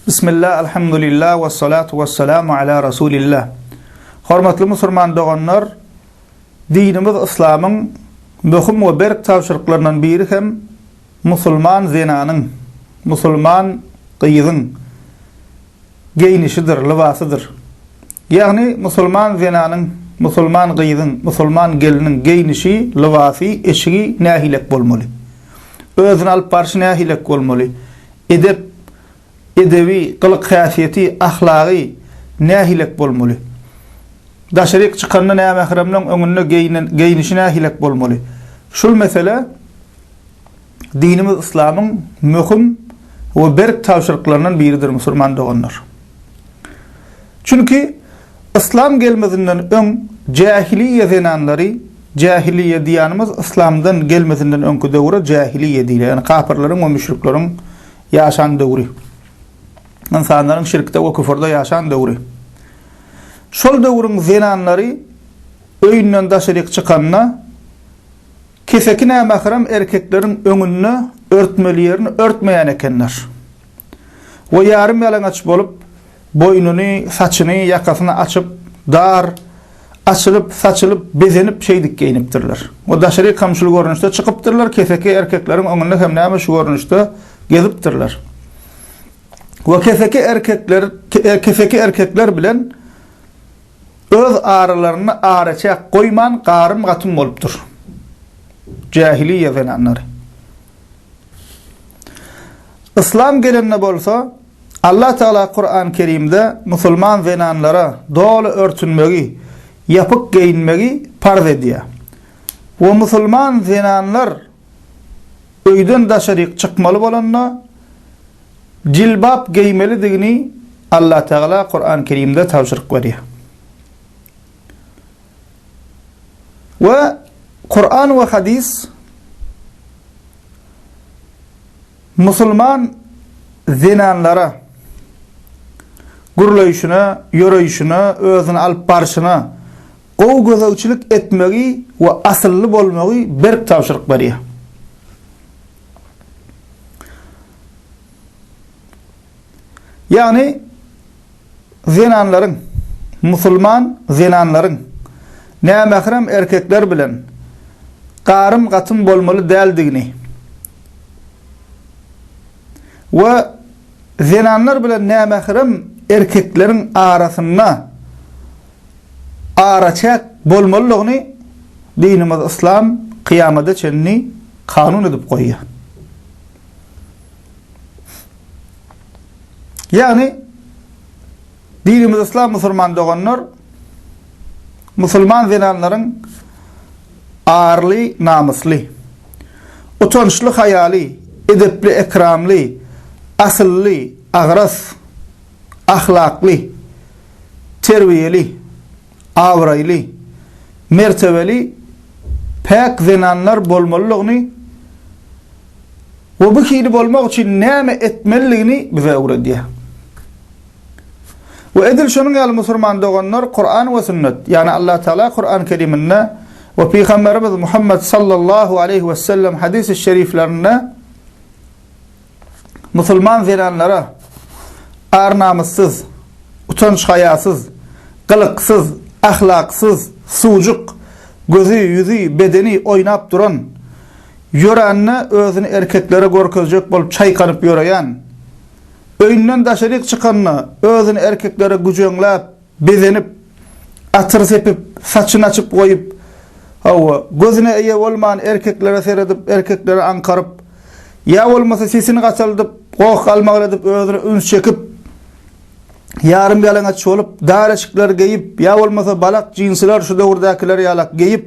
Bismillah, alhamdulillah, we salatu we salamu ala rasulillah. Hormatly musulman doganlar, dinimiz yslamyň möhüm we berk tabşyryklaryndan biri hem musulman zenanyň, musulman gyzyň geýnişidir, lybasydyr. Ýagny musulman zenanyň, musulman gyzyň, musulman gelniň geýnişi, lybasy, eşigi nähilek bolmaly? Özüni alyp barşy nähilek bolmaly? Edep, edebi, gylyk-häsiýeti, ahlagy nähilek bolmaly? Daşaryk çykanda nämähremleň öňünde geýnen geýnişi nähilek bolmaly? Şul mesele dinimiz yslamyň möhüm we berk tabşyryklaryndan biridir musurman doganlar. Çünki yslam gelmezinden öň jähiliýe zenanlary Jähiliýe diýýänimiz yslamdan gelmesinden öňki döwre jähiliýe diýilýär. Ýagny kapyrlaryň we müşrikleriň ýaşan döwri. Ynsanlaryň şirkde we küfürde ýaşan döwri. Şol döwrüň zenanlary öýünden daşaryk çykanda keseki nämährem erkekleriň öňünde örtmeli ýerini örtmeýän ekenler we ýarym ýalaňaç bolup Boýnuny, saçyny, ýakasyny açyp, dar, açylyp, saçylyp, bezenip şeýdip geýnipdirler. We daşarykam şul görnüşde çykypdyrlar, keseki erkekleriň öňünde hem näme şu görnüşde gezipdirler. We keseki erkekler, keseki erkekler bilen öz aralarynda araçäk goýman garym-gatym bolupdyr. Jähiliýe zenanlary. Yslam gelende bolsa, Allah Tagala Kurany Kerimde musulman zenanlara doly örtünmegi, ýapyk geýinmegi parz edýär. We musulman zenanlar öýden daşaryk çykmaly bolanda jilbap geýmelidigini Allah Tagala Kurany Kerimde tabşyryk berýär. We Kuran we Hadys musulman zenanlara gürleýşine, ýöreýşine, özüni alyp barşyna gowy gözegçilik etmegi we asylly bolmagy berk tabşyryk berýär. Ýagny, zenanlaryň, musulman zenanlaryň nämährem erkekler bilen garym-gatym bolmaly däldigini we zenanlar bilen nämährem erkekleriň arasynda araçäk bolmalydygyny dinimiz yslam kyýamada çenli kanun edip goýýar. Ýagny dinimiz yslam musulman doganlar musulman zenanlaryň arly namysly, utançly haýaly, edepli ekramly, asylly, agras, ahlakly, terbiýeli, abraýly, mertebeli, päk zenanlar bolmalydygyny we bu hili bolmak üçin näme etmelidigini bize öwredýär. We edil şonuň ýaly musulman doganlar Kuran we sünnet, ýagny Allah Taala Kuran Keriminde we Pygamberimiz Muhammet sallallahu aleýhi wesellem hadysy şeriflerinde musulman zenanlara ar-namyssyz, utanç-haýasyz, gylyksyz, ahlaksyz, suwjuk, gözi, ýüzi, bedeni oýnap duran, ýörände özüni erkeklere görkezjek bolup çaýkanyp ýöreýän, öýünden daşaryk çykanda özüni erkeklere güjeňläp, Bezenip, atyr sepip, saçyny açyp goýup, hawa, gözüne eýe bolman erkeklere seredip, erkekleri aňkaryp, ýa bolmasa sesini gataldyp, goh-galmagal edip özüne üns çekip, ýarym ýalaňaç bolup, dar eşikler geýip, ýa bolmasa balak jinsiler şu döwürdäkiler ýalak geýip,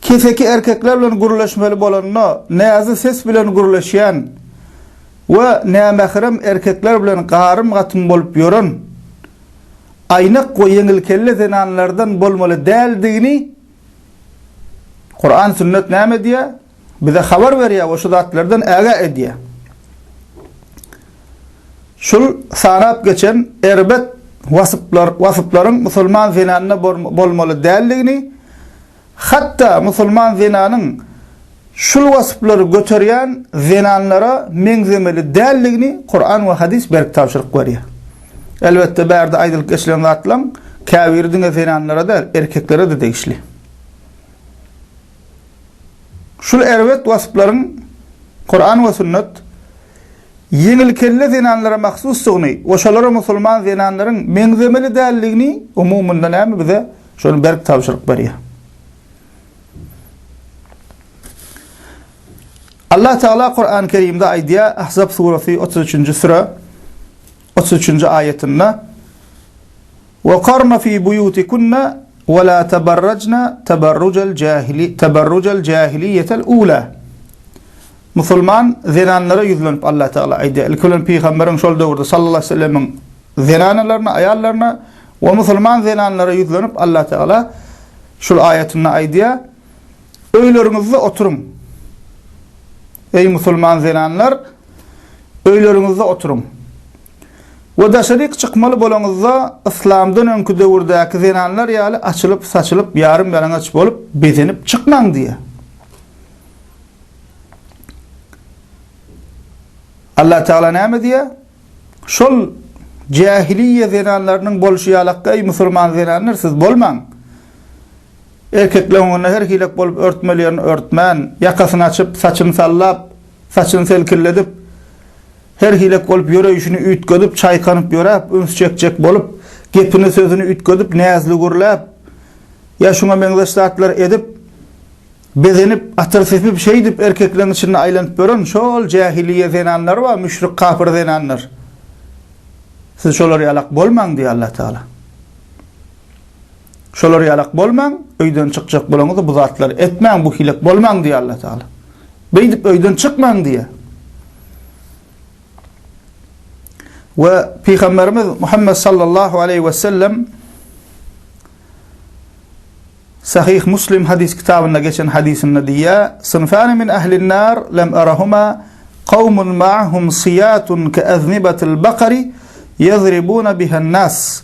Keseki erkekler bilen gürleşmeli bolanda näzik ses bilen gürleşýän we nämährem erkekler bilen garym-gatym bolup ýören aýnak we ýeňilkelle zenanlardan bolmaly däldigini Kuran-Sünnet näme diýýär? Bize habar berýär we şu zatlardan ägä edýär. Şul sanap geçen erbet wasplar, wasplaryn musulman zenanda bolmaly däldigini, hatda musulman zenanyň şul wasplary göterýän zenanlara meňzemeli däldigini Kuran we hadys berk tabşyryk berýär. Elbetde bärde aýdylyp geçilen zatlaň käbiri diňe zenanlara däl, erkeklere-de degişli. Şul erbet wasplaryň Kuran we Sünnet ýeňilkelle zenanlara mahsusdygyny we şolara musulman zenanlaryň meňzemeli däldigini umumynda näme bize şony berk tabşyryk berýär. Allah Tagala Kurany Kerimde aýdýar, Ahzab surasy otuz üçünji süre. otuz üçünji aýatynda, Wekarna fi buýutikunna we la teberrejna teberrujel jahili teberrujel jahiliýetel ula. Musulman zenanlara ýüzlenip Allah Tagala aýdýar. Ilki bilen pygamberiň şol döwürde sallallahu aleýhi wesellemiň zenanalaryna, aýallaryna we musulman zenanlara ýüzlenip Allah Tagala şul aýatynda aýdýar, Öýleriňizde oturyň. Eý musulman zenanlar, öýleriňizde oturyň. We daşaryk çykmaly bolaňyzda yslamdan öňki döwürdäki zenanlar ýaly açylyp-saçylyp, ýarym-ýalaňaç bolup, bezenip çykmaň diýýär. Allah Tagala näme diýýär? Şol jähiliýe zenanlarynyň bolşy ýalakda eý musulman zenanlar siz bolmaň. Erkekleň öňünde her hilek bolup örtmeli ýerini örtmän, ýakasyny açyp, saçyny sallap, saçyny selkilledip, her hilek bolup ýöreýşini üýtgedip, çaýkanyp ýöräp, üns çekjek bolup, gepini, sözüni üýtgedip, näzli gürläp, ýa şuňa meňzeş zatlar edip, bezenip, atyr sepip, şeýdip erkekleň içinde aýlanyp ýören şol jähiliýe zenanlary bar, müşrik kapyr zenanlar. Siz şolar ýalak bolmaň diýýär Allatagala. Şolar ýalak bolmaň, öýden çykjak bolaňyzda bu zatlary etmäň, bu hilek bolmaň diýýär Alla Tagala. Beýdip öýden çykmaň diýýär. We Pygamberimiz Muhammed sallallahu aleyhi ve sellem Sahih Muslim hadis kitabynda geçen hadisinde diýýär: "Sınfani min ehlin nar lem arahuma kavmun ma'hum siyatun ka aznibati'l bakari yadribuna biha'n nas."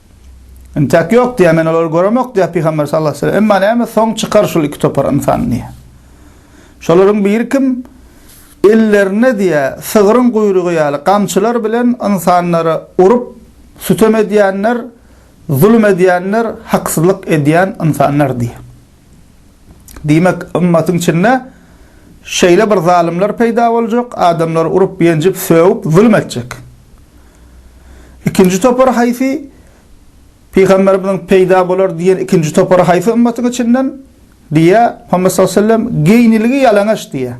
Intäk ýok diýýär, men olary göremok diýýär pygamber sallallahu aleyhi ve sellem. Emma näme soň çykar şul iki topar ynsan diýýär. Şolaryň biri kim? Ellerine diýýär, sygryň guýrugy ýaly gamçylar bilen ynsanlary urup, sütem edýänler, zulum edýänler, haksyzlyk edýän ynsanlar diýýär. Diýmek, ymmatyň içinde şeýle bir zalymlar peýda boljak, adamlary urup-ýenjip, sögüp, zulum etjek. Ikinji topar haýsy? Pygamberimiziň peýda bolar diýen ikinji topary haýsy ymmatyň içinden? Diýýär, Muhammet sallallahu aleýhi we sellem, Geýnilgi ýalaňaç diýýär.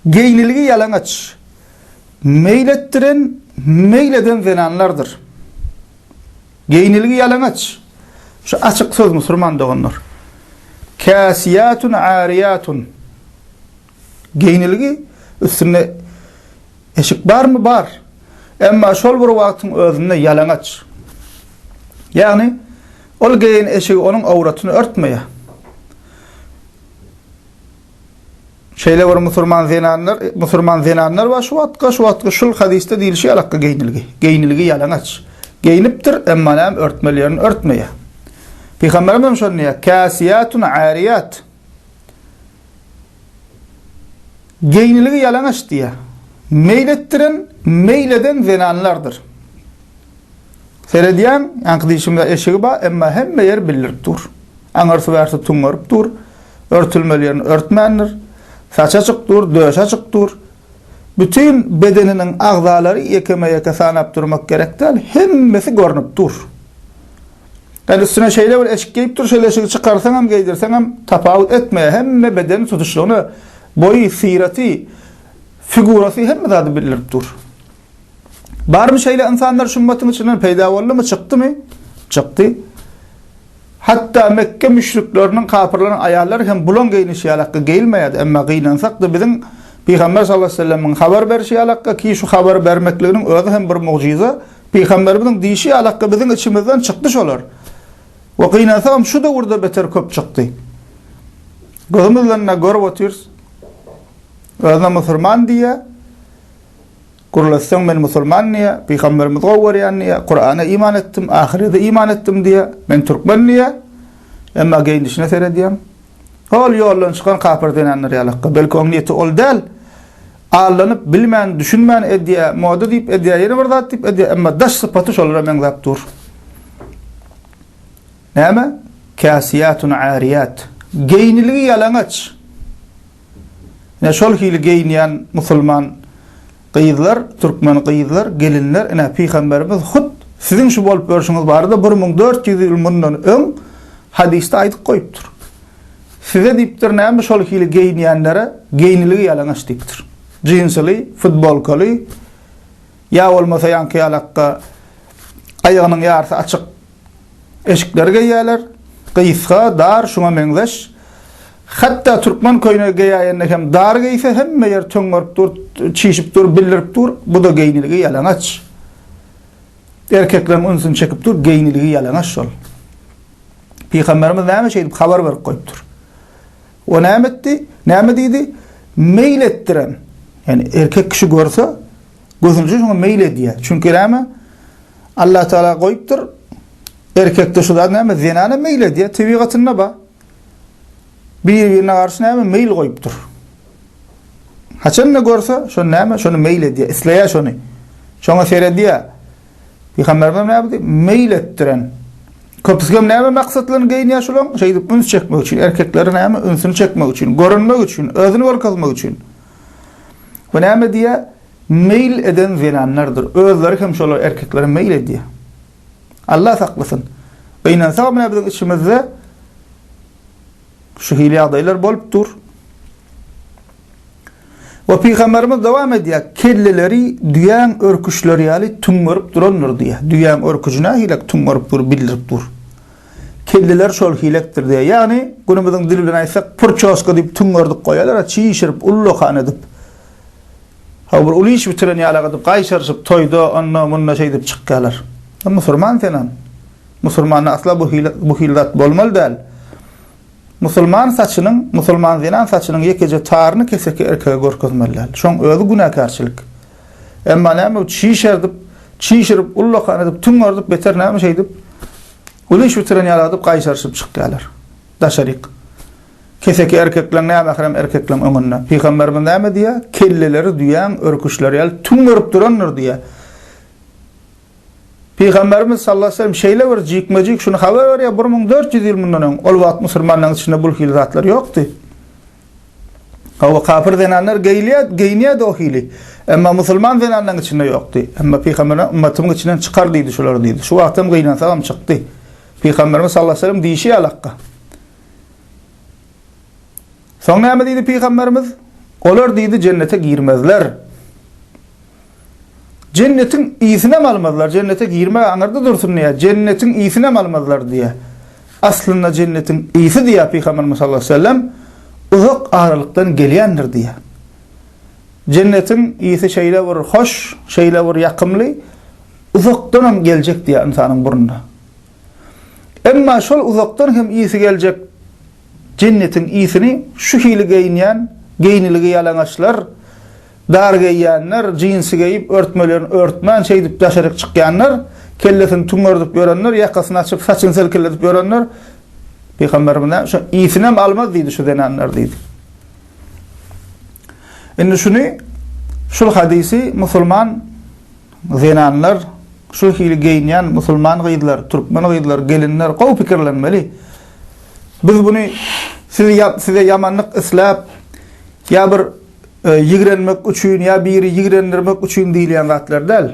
Geýnilgi ýalaňaç, meýil etdiren, meýil eden zenanlardyr. Geýnilgi ýalaňaç. Şu açyk söz musurman doganlar. Käsiýatun ariýatun. Geýnilgi üstünde eşik barmy bar. Emma şol bir wagtyň özünde ýalaňaç. Ýagny ol geýen eşigi onuň awratyny örtmeýär. Şeýle bir musurman zenanlar, musurman zenanlar bar şu wagtga, şu wagtga şul hadysda diýilişi ýalakga geýnilgi. Geýnilgi ýalaňaç. Geýnipdir, emma näme örtmeli ýerini örtmeýär. Pygamberimiz hem şony diýýär, Kasiýatun ariyat. Geýnilgi ýalaňaç diýýär. Meýletdiren, meýleden zenanlardyr. Seredýän, ýaňky dişimize eşigi bar, emma hemme ýer bildirip dur. Aňyrsy-bärsi tuňňaryp dur, örtülmeli ýerini örtmändir. Saçy açyk dur, döşi açyk dur. Bütin bedeniniň agzalary ýekeme-ýeke sanap durmak gerek däl, hemmesi görnüp dur. Ýöne üstüne şeýle bir eşik geýip dur, şol eşigi çykarsaňam, geýdirseňem tapawut etmeýär, hemme bedeni tutuşlygyna, boýy, syraty, figurasy hemme zady bildirip dur. Barmy şeýle ynsanlar şu ymmatyň içinden peýda boldumy, çykdymy? Çykdy. Hatda Mekge müşrikleriniň, kapyrlaryň aýallary hem bulaň geýnişi ýalakka geýilmeýärdi, emma gynansak-da biziň Pygamber sallallahu aleyhi ve sellemiň habar berşi ýalakka ki şu habary bermekliginiň özi hem bir mugjyza, Pygamberimiziň diýşi ýalakka biziň içimizden çykdy şolar. We gynansagam şu döwürde beter köp çykdy. Gözümizden görüp otyrys. Özüne musurman diýýär. Gürletseň men musulman diýýä, pygamberimizi gowy görýän diýýä, Kurana iman etdim, ahyrede iman etdim diýýä, men türkmen diýýä, emma geýnişine seredýäň, hol ýoldan çykan kapyr zenanlar ýalakka, belki oň niýeti ol däl, aldanyp bilmän, düşünmän edýä, moda diýip edýä, ýene bir zat diýip edýä, emma daş sypaty şolara meňzäp dur. Näme? Käsiýatun-äriyat. Geýniligi ýalaňaç. Ine şol hili geýinýän musulman gyzlar, türkmen gyzlar, gelinler, ine pygamberimiz hut siziň şu bolup ýörşüňiz barada bir müň dört ýüz ýyl mundan öň hadysda aýdyp goýupdyr. Size diýipdir näme şol hili geýinýänlere geýniligi ýalaňaç diýipdir. Jinsyly, futbolkaly ýa bolmasa ýaňky ýalakka aýagynyň ýarsy açyk Eşikleri geýýärler. Gysga, dar, şuňa meňzeş. Hatda türkmen köýnegi geýäýende hem dar geýse hemme ýer töňňerip dur, çişip dur, bildirip dur. Bu-da geýniligi ýalaňaç. Erkekleriň ünsüni çekip dur, geýniligi ýalaňaç şol. Pygamberimiz näme şeýdip habar berip goýupdyr? O näme etdi? Näme diýdi? Meýil etdirem. Ýani erkek kişi görse, Götünje şoňa meýil edýär. Çünki näme? Allah Taala goýupdyr. Erkekde şu zat näme? Zenana meýil edýär, tebigatynda bar. Bir-birine garşy näme? Meýil goýupdyr. Haçan da görse, şo näme? Şony meýil edýär, isleýär şony. Şoňa seredýär. Pygamberimiz näme diýip? Meýil etdiren. Köpüsgem näme maksatlaryny geýinýär şolaň? Şeýdip üns çekmek üçin, erkekleri näme? Ünsüni çekmek üçin, görünmek üçin, özüni görkezmek üçin. We näme diýýär? Meýil eden zenanlardyr. Özleri hem şolar erkeklere meýil edýär. Allah saklasyn. We ynansak menä biziň içimizde şu hili ýagdaýlar bolup dur. We pygamberimiz dowam edýär, kelleleri düýäň örküçleri ýaly tüňňerip durandyr diýýär. Düýäň örküji nähilek tüňňerip dur, bildirip dur. Kelleler şol hilekdir diýýär. Ýagny, günümiziň dili bilen aýtsak, purçoska diýip tüňňerdip goýarlar-a, çişirip, ullakan edip. Hawa, bir uly iş bitiren ýaly-a edip, gaýşaryşyp, toýda, onda, munda şeýdip çykýarlar. Sen musulman senem. Musulmanda asla bu hil, bu hili zat bolmaly däl. Musulman saçynyň, musulman zenan saçynyň ýekeje taryny keseki erkege görkezmeli däl. Şoň özi günäkärçilik. Emma näme bu çişerdip, çişirip, ullakan edip, tüňňerdip, beter näme şeýdip, uly iş bitiren ýaly edip gaýşaryşyp çykýarlar. Daşaryk. Keseki erkekleň nämährem erkekleň öňünde. Pygamberimiz näme diýýär? Kelleleri düýäň örküşleri ýaly tüňňerip durandyr diýýär. Pygamberimiz sallallahu aleyhi ve sellem şeýle bir jikme-jik şuny habar berýär 1400 ýyl mundan öň. Ol wagt musulmanlaryň içinde bu hili zatlar ýokdy. Hawa, kapyr zenanlar geýilýär, geýinýärdi o hili. Emma musulman zenanlaryň içinde ýokdy. Emma pygamberimiz ümmetimiň içinden çykar diýdi şular diýdi. Şu wagtam gynansagam çykdy. Pygamberimiz sallallahu aleyhi ve sellem diýşi ýaly hakga. Soň näme diýdi pygamberimiz? Olar diýdi jennete girmezler. Jennetiň ysinem almazlar, jennete girmek aňyrda dursun diýýär, jennetiň ysinem almazlar diýýär. Aslynda jennetiň ysy diýýär Pygamberimiz sallallahu aleýhi we sellem, uzak aralykdan gelýändir diýýär. Jennetiň ysy şeýle bir hoş, şeýle bir ýakymly, uzakdanam geljek diýýär ynsanyň burnuna. Emma şol uzakdan hem ysy geljek jennetiň ysyny şu hili geýinýän, geýniligi ýalaňaçlar, Dar geýýänler, jinsi geýip, örtmelerini örtmän, şeýdip daşaryk çykýanlar, kellesini tüňňerdip ýörenler, ýakasyny açyp, saçyny selkeledip ýörenler, Pygamberimiz näme, şo isinem almaz diýdi şu zenanlar diýdi. Indi şuny, şul hadysy musulman zenanlar, şu hili geýinýän musulman gyzlar, türkmen gyzlar, gelinler gowy pikirlenmeli. Biz buny sizi size ýamanlyk isläp, ýa bir ýigrenmek üçin ýa biri ýigrendirmek üçin diýilýän zatlar däl.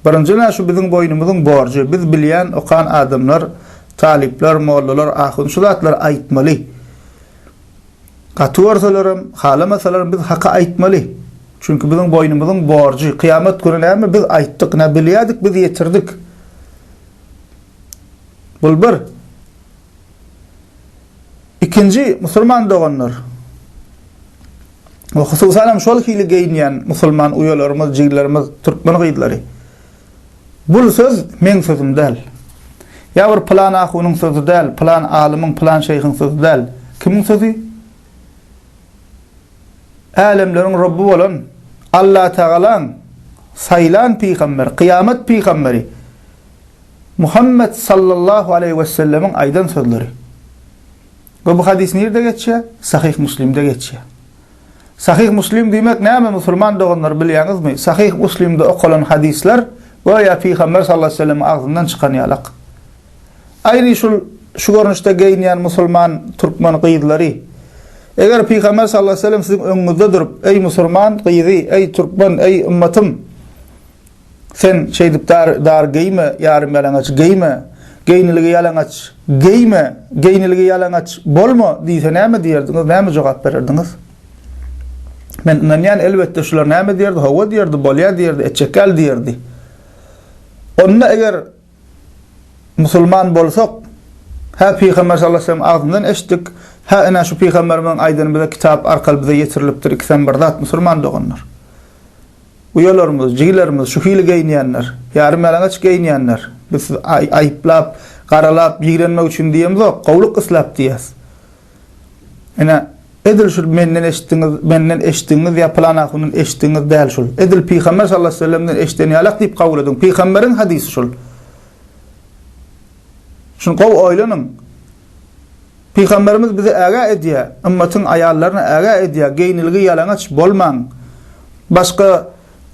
Birinji nä şu biziň boýnumyzyň borjy, biz bilýän, okan adamlar, talyplar, mollalar, ahun şu zatlary aýtmaly. Gaty görselerim, halamasalaram biz haky aýtmaly. Çünki biziň boýnumyzyň borjy, kyýamat güni näme biz aýtdyk, nä bilýädik biz ýetirdik. Bul bir. Ikinji musulman doganlar we hususan hem şol hili geýinýän musulman uýalarymyz, jiglerimiz, türkmen gyzlary. Bul söz meň sözüm däl. Ýa bir pylan ahunyň sözi däl, pylan alymyň, pylan şeýhiň sözi däl. Kimiň sözi? Älemleriň Rabby bolan Allatagalaň saýlan pygamberi, kyýamat pygamberi. Muhammet sallallahu aleýhi wessellemiň aýdan sözleri. We bu hadys nirde geçýär? Sahyh Muslimde geçýär. Sahyh Muslim diýmek näme musulman doganlar bilýäňizmi? Sahyh Muslimde okalan hadyslar göýä pygamber sallallahu aleýhi wesellemiň agzyndan çykan ýalak. Aýni şul şu görnüşde geýinýän musulman türkmen gyzlary. Eger pygamber sallallahu aleýhi wesellem siziň öňüňizde durup, eý musulman gyzy, eý türkmen, eý ymmatym! Sen şeýdip dar geýme, ýarym ýalaňaç geýme, geýniligi ýalaňaç geýme, geýniligi ýalaňaç bolma diýse näme diýerdiňiz, näme jogap bererdiňiz? Men ynanýan elbetde şular näme diýerdi, hawa diýerdi, bolýa diýerdi, etjek ýaly diýerdi. Onda eger musulman bolsak, hä pygamber sallallahu aleyhi ve sellem agzyndan eşitdik, hä ine şu pygamberimiziň aýdany bize kitap arkaly bize ýetirilipdir, ikisem bir zat musulman doganlar. uýalarymyz, jigilerimiz şu hili geýinýänler, ýarymýalaňaç geýinýänler. Biz sizi aýyplap, garalap, ýigrenmek üçin diýemzok, gowulyk isläp diýýäs. Ine, edil şu menden eşitdiňiz, menden eşitdigiňiz ýa pylan ahundan eşitdigiňiz däl şul. Edil Pygamber sallallahu aleyhi ve sellemden eşiden ýalak diýip kabul ediň. Pygamberiň hadysy şul. Şuny gowy oýlanyň. Pygamberimiz bizi ägä edýär, ymmatyň aýallaryny ägä edýär, geýnilgi ýalaňaç bolmaň. Başga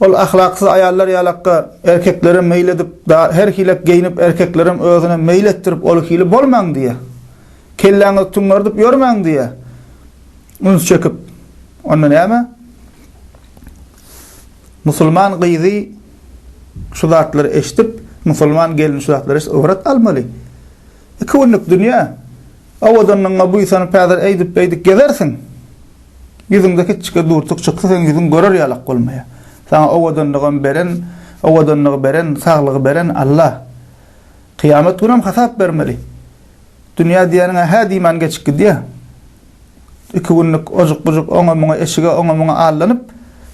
ol ahlaksyz aýallar ýalakka erkeklere meýil edip, her hilek geýnip erkeklerem özüne meýil etdirip ol hili bolmaň diýýär. Kelläňizi tüňňerdip ýörmäň diýýär. Üns çekip. Onda näme? Musulman gyzy şu zatlary eşdip, musulman gelni şu zatlary eşdip ybrat almaly. Iki günlük dünýä owadanlygyňa buýsanyp häzir eýdip beýdip gezersiň. Ýüzüňde kiçjike durtuk çyksa seň ýüzüň görer ýalak bolmaýa. Saňa owadanlygam beren, owadanlygy beren, saglygy beren Alla. Kyýamat günem hasap bermeli. Dünýä diýeniň-ä hä diýmän geçip gidýä. Iki günlük ojuk-bujuk oňa-muňa, eşige oňa-muňa allanyp,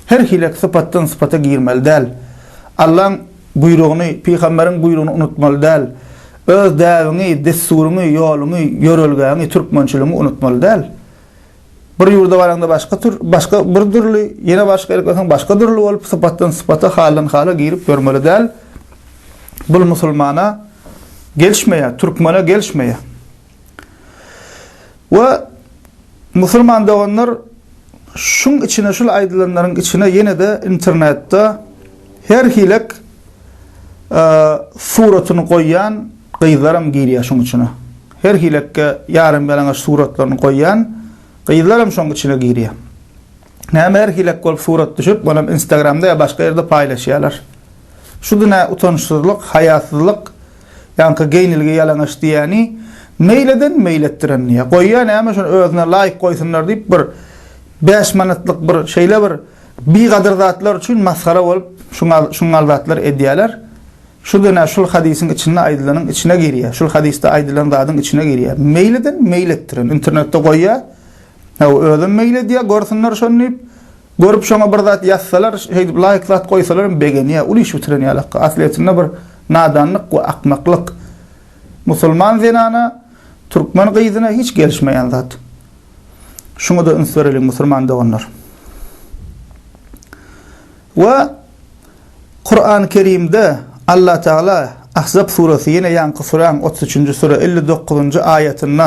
her hilek sypatdan sypata girmeli däl. Allaň buýrugyny, pygamberiň buýrugyny unutmaly däl. Öz däbiňi, dessuryňy, ýoluňy, ýörelgäňi, türkmençiligiňi unutmaly däl. Bir ýurda baraňda başga tür, başga bir dürli, ýene başga ýere gitseň başga dürli bolup, sypatdan sypata, haldan hala girip ýörmeli däl. Bul musulmana gelişmeýär, türkmene gelişmeýär. We musulman doganlar şuň içine şul aýdylanlaryň içine ýene-de internetde her hilek suratyny goýýan gyzlaram girýär şuň içine. Her hilekge ýaram ýalaňaç suratlaryny goýýan gyzlaram şoň içine girýär. Näme her hilek bolup surat düşüp, onam instagramda ýa başga ýerde paýlaşýalar. Şu günä utançsyzlyk, haýasyzlyk, ýaňky geýnilgi ýalaňaç diýýäni meýil eden meýil etdiren diýýä. Goýýa näme şony özüne laýyk goýsunlar diýip bir bäş manatlyk bir şeýle bir bigadyr zatlar üçin masgara bolup şuňňal zatlar edýäler. Şu günä şul hadysyň içinde aýdylanyň içine girýä. Şul hadysda aýdylan zadyň içine girýä. Meýil eden meýil etdiren internetde goýýa Hawa, özem meýil edýär, görsünler şony diýip, görüp şoňa bir zat ýazsalar, şeýdip laýk zat goýsalar hem begenýär. Uly iş bitiren ýalaka. Aslyýetinde bir nadanlyk we akmaklyk. Musulman zenana türkmen gyzyna hiç gelişmeýän zat. Şuňa-da üns bereliň musulman doganlar. We Kurany Kerimde Allah Teala Ahzab suresi ýene ýaňky süräň otuz üçünji süre elli dokuzynjy aýatynda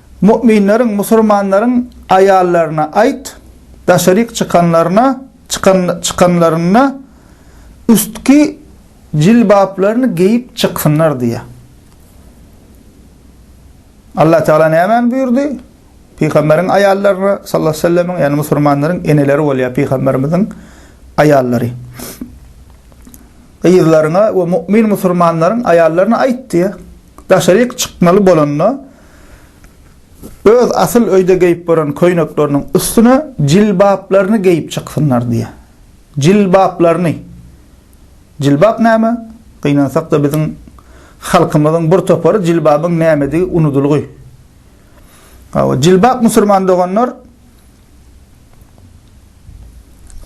Mu'minleriň, musulmanlaryň, aýallaryna aýt, daşaryk çykanlaryna, çykan, çykanlarynda üstki jilbaplaryny geýip çyksynlar diýýär. Allah Tagala nämäni buýurdy? Pygamberiň aýallaryna, sallallahu aleyhi ve sellemiň, ýagny musulmanlaryň eneleri bolýar pygamberimiziň aýallary. Gyzlaryňa we mu'min musulmanlaryň aýallaryna aýt diýýär. Daşaryk çykmaly bolanda, öz asyl öýde geýip gören köýnekleriniň üstüne jilbaplaryny geýip çyksynlar diýýär. Jilbaplaryny. Jilbap näme? Gynansak-da biziň halkymyzyň bir topary jilbabyň nämedigi unudylgy. Hawa, jilbap musulman doganlar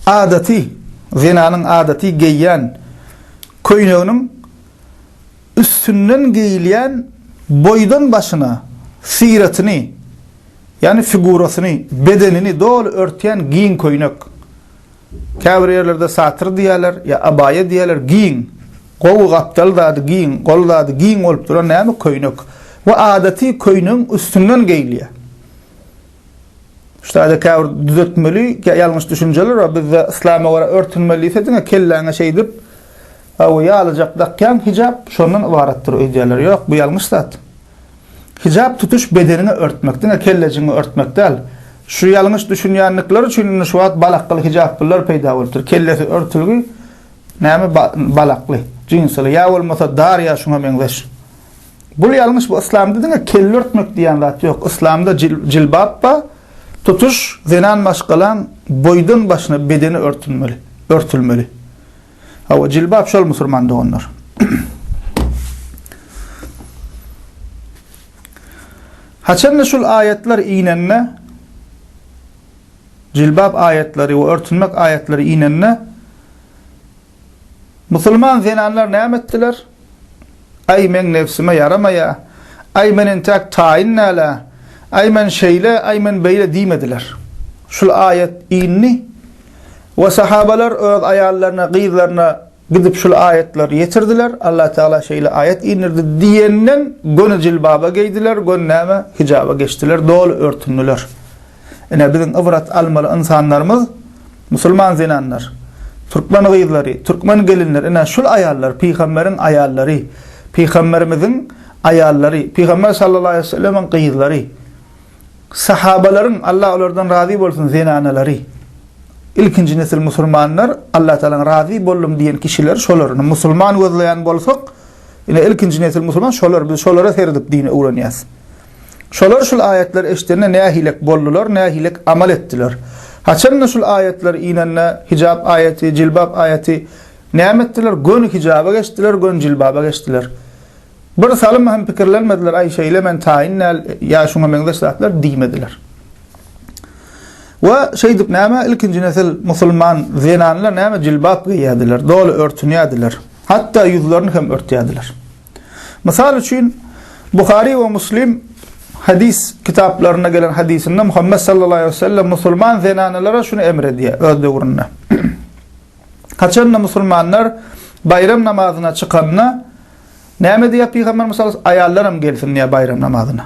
adaty, zenanyň adaty geýýän köýneginiň üstünden geýilýän boýdan başyna syratyny, ýagny figurasyny, bedenini doly örtýän giň köýnek. Käbir ýerlerde satyr diýýärler, ýa abaýa diýýärler, giň, gowy gapdal zady giň, gol zady giň bolup duran näme köýnek we adaty köýnegiň üstünden geýilýär. Ştaýda käbir düzetmeli ýalňyş düşünjeler bar, bizde yslama görä örtünmeli diýse diňe kelläňe şeýdip we ýalyjak dakýaň, hijap şondan ybaratdyr öýdýärler. Ýok, bu ýalňyş zat. Hijap tutuş bedeniňi örtmek, diňe kellejigiňi örtmek däl. Şu ýalňyş düşünýändikleri üçin indi şu wagt balakly hijaplylar peýda bolupdyr. Kellesi örtülgi näme balakly, jinsili ýa bolmasa dar ýa şuňa meňzeş. Bul ýalňyş bu yslamda diňe kelle örtmek diýen zat ýok yslamda jilbap ba tutuş zenan maşgalaň boýdan başyna bedeni örtünmeli örtülmeli hawa jilbap şol musurman doganlar Haçanda şul aýatlar inende jilbap aýatlary we örtünmek aýatlary inende Musulman zenanlar näme etdiler? Aý, meň nebsime ýaramaýa, aý, men entäk taýyn däl-ä, aý, men şeýle, aý, men beýle diýmediler. Şul aýat indi we sahabalar öz aýallaryna, gyzlaryna gidip şul aýatlary ýetirdiler, Allah Tagala şeýle aýat indirdi diýenden göni jilbaba geýdiler, göni näme, hijaba geçdiler, doly örtündiler. Ine, biziň ybrat almaly ynsanlarymyz musulman zenanlar, türkmen gyzlary, türkmen gelinleri, ine, şul aýallar, pygamberiň aýallary, pygamberimiziň aýallary, pygamber sallallahu aleýhi we sellemiň gyzlary, sahabalaryň, Allah olardan razy bolsun, zenanalary. Ilkinji nesil musulmanlar, Allah Tagaladan razy boldum diýen kişiler şolar. Musulman gözleýän bolsak, ine, ilkinji nesil musulman şolar, biz şolara seredip dini öwrenýäs. Şolar şul aýatlary eşidende nähilek boldular, nähilek amal etdiler? Haçan-da şul aýatlar inende, hijap aýaty, jilbap aýaty, näme etdiler? Göni hijaba geçdiler, göni jilbaba geçdiler. Bir salym hem pikirlenmediler, aý şeýle men taýyn däl, ýa şuňa meňzeş zatlar diýmediler. We şeýdip näme ilkinji nesil musulman zenanlar näme jilbap geýýärdiler, doly örtünýärdiler. Hatda ýüzlerini hem örtýärdiler. Mysal üçin, Buhary we Muslim hadys kitaplarynda gelen hadysynda Muhammet sallallahu aleýhi we sellem musulman zenanalary şuny emr edýär öz döwründe. Haçanda musulmanlar baýram namazyna çykanda näme diýýär pygamber mysal aýallaram gelsin diýýär baýram namazyna.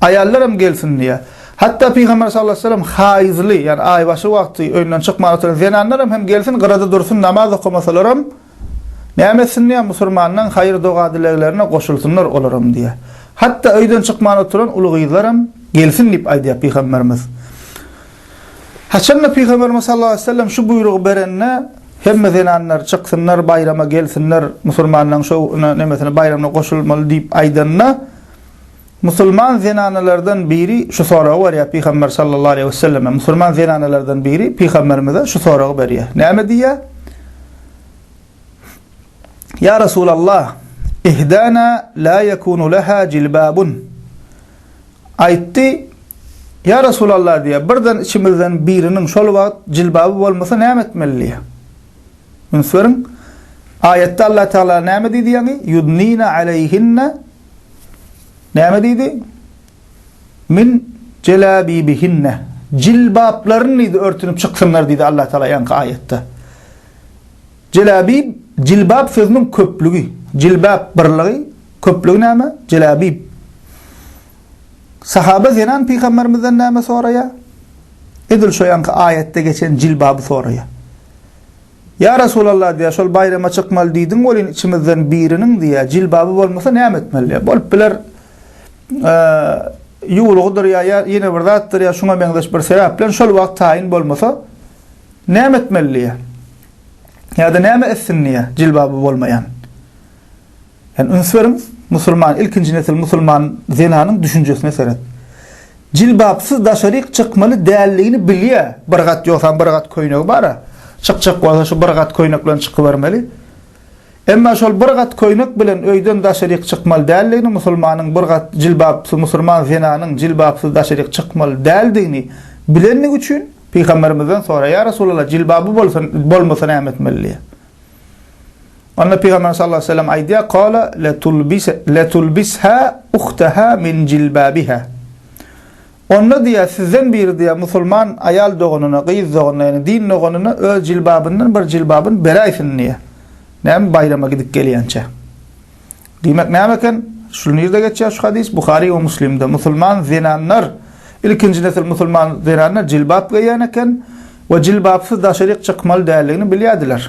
Aýallaram gelsin diýýär. Hatda pygamber sallallahu aleýhi we sellem haýyzly, ýani aýbaşy wagty öýünden çykman oturan zenanlaram hem gelsin, gyrada dursun namaz okamasalaram, Näme etsindiýä musurmanlaň haýyr doga dileglerine goşulsynlar olaram diýä. Hatda öýden çykman oturan uly gyzlaram gelsin diýip aýdýa pygamberimiz. Haçanda pygamberimiz sallallahu aleýhi wesellem şu buýrugy berende hemme zenanlar çyksynlar baýrama gelsinler musurmanlaň şo na nemesine baýramyna goşulmaly diýip aýdanda, Musulman zenanalardan biri şu soragy berýär Pygamber sallallahu aleýhi we selleme, musulman zenanalardan biri Pygamberimize şu soragy berýär. Näme diýýär? Ýa Resulallah, ihdana la ýekunu leha jilbabun. Aýtdy, Ýa Resulallah diýýär, birden içimizden biriniň şol wagt jilbaby bolmasa näme etmeli diýýär. Üns beriň, aýatda Allah Tagala näme diýdi ýaňy, Ýudnine aleýhinne, näme diýdi, Min jelabibihinne, jilbaplaryn diýdi, örtünip çyksynlar diýdi Allah Tagala ýaňky aýatda. Jelabib, jilbap sözüniň köplügi, jilbap birligi, köplügi näme, jelabib. Sahaba zenan pygamberimizden näme soraýar? Edil şo ýanky aýatda geçen jilbaby soraýar. Ýa Resulallah diýär, şol baýrama çykmaly diýdiň welin içimizden biriniň diýär, jilbaby bolmasa näme etmeli? Bolup biler, ýuwlugydyr ýa ýene bir zatdyr ýa şuňa meňzeş bir sebäp bilen şol wagt taýyn bolmasa näme etmeli diýär. Ýa-da näme etsin diýär, jilbaby bolmaýan. Sen üns beriň, musulman, ilkinji nesil musulman zenanyň düşünjesine seret. Jilbapsyz daşaryk çykmaly däldigini bilýär. Bir gat ýogsam bir gat köýnegi bar-a. Çykjak bolsa şu bir gat köýnek bilen çykybermeli. Emma şol bir gat köýnek bilen öýden daşaryk çykmaly däldigini, musulmanyň bir gat jilbapsyz musulman zenanyň jilbapsyz daşaryk çykmaly däldigini bilendigi üçin pygamberimizden soraýar, Ýa Resulallah, jilbaby bolsa bolmasa näme etmeli diýýär. Onda Pygamber sallallahu aleýhi we sellem aýdýar, Kâle, Letulbishâ uhtehâ min jilbâbihâ. Onda diýýär, sizden biri diýýär, musulman aýal doganyna, gyz doganyna, ýagny din doganyna öz jilbabyndan bir jilbabyny beräýsin diýýär. Näme baýrama gidip gelýänçä. Diýmek näme eken? Şu nirde geçýär şu hadys? Buhary we Muslimde. Musulman zenanlar, ilkinji nesil musulman zenanlar jilbap geýýän eken we jilbapsyz daşaryk çykmaly däldigini bilýärdiler.